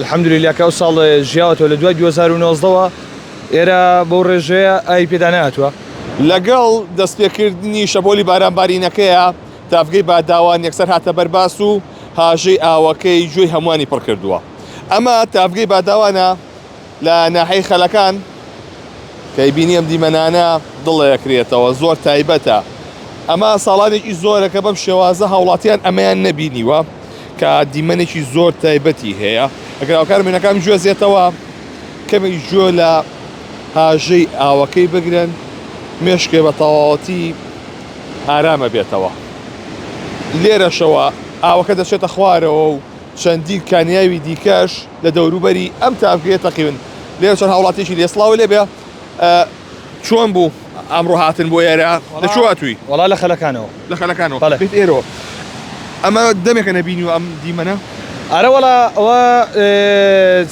الحمدللە کە ئەو ساڵ ژیاوەتەوە لە دوای دوو هەزار و نۆزدە وە ئێرە بەو ڕێژەیە ئاوی پێدا نەهاتووە. لەگەڵ دەستپێکردنی شەپۆلی بارانبارینەکەیا تاڤگەی باداوان یەکسەر هاتە بەر باس و هاژەی ئاوەکەی گوێی هەمووانی پڕ کردووە. ئەمە تاڤگەی باداوانە لە ناحیەی خەلەکان. کەی بینی ئەم دیمەنانە دڵەکرێتەوە. زۆر تایبەتە. ئەمە ساڵانێکی زۆرە کە بەم شێوازە هاوڵاتیان ئەمەیان نەبینیوە. کە دیمەنێکی زۆر تایبەتی هەیە ئەگەر هاوکارە مێینەکان بجوێزێتەوە کەمێک گوێ لە هاژەی ئاوەکەی بگرن مێشکێ بە تەواوەتی ئارامە بێتەوە لێرەشەوە ئاوەکە دەچێتە خوارەوە و چەندین کانیاوی دیکەش لە دەوروبەری ئەم تاڤگەیە تەقیون لێرە چەند هاوڵاتیەکی لێ سڵاو لێبێ. چۆن بوو ئەمڕۆ هاتن بۆ ئێرە لە چۆ هاتووی وڵا لە خەلەکانەوە لە خەلەکانەوە بێت ئێرەوە ئەمە دەمێکە نەبینی و ئەم دیمەنە ئەرە وڵا ئەوە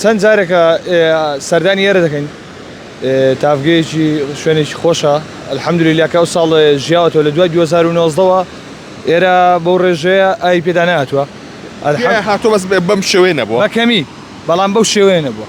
چەند جارێکە سەردانی ئێرە دەکەین تافگەیەکی شوێنێکی خۆشە ئەلحەمدلی لەکە ئەو ساڵ ژیاوەەوە لە دوای 2009ەوە ئێرە بەو ڕێژەیە ئای پێدا ناتوە هاتۆ بەس بەم شێوێ نەبووە بەکەمی بەڵام بەو شێوێ نەبووە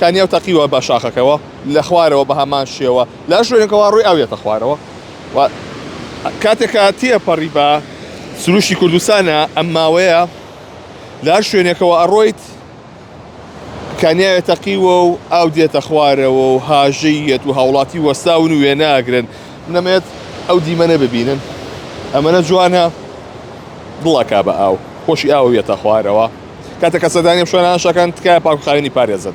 کانیاو تەقیوە بە شاخەکەوە لە خوارەوە بە هەمان شێوە لە شوێنەکەوە ڕووی ئاو یەتە خوارەوە و کاتێک کە تێپەڕی بە سروشتی کوردستانە ئەم ماوەیە لە هەر شوێنێکەوە ئەڕۆیت کانیاوێ تەقیوە و ئاو دێتە خوارەوە و هاژەی یەت و هاوڵاتی وەستاون و وێناگرن نەمێت ئەو دیمەنە ببینن ئەمەە جوانە دڵەکە بە ئاو خۆشی ئاوە یەتە خوارەوە کاتە کە سەدانیم شوێنان شەکەن تکایە پاکخاوێنی پارێزن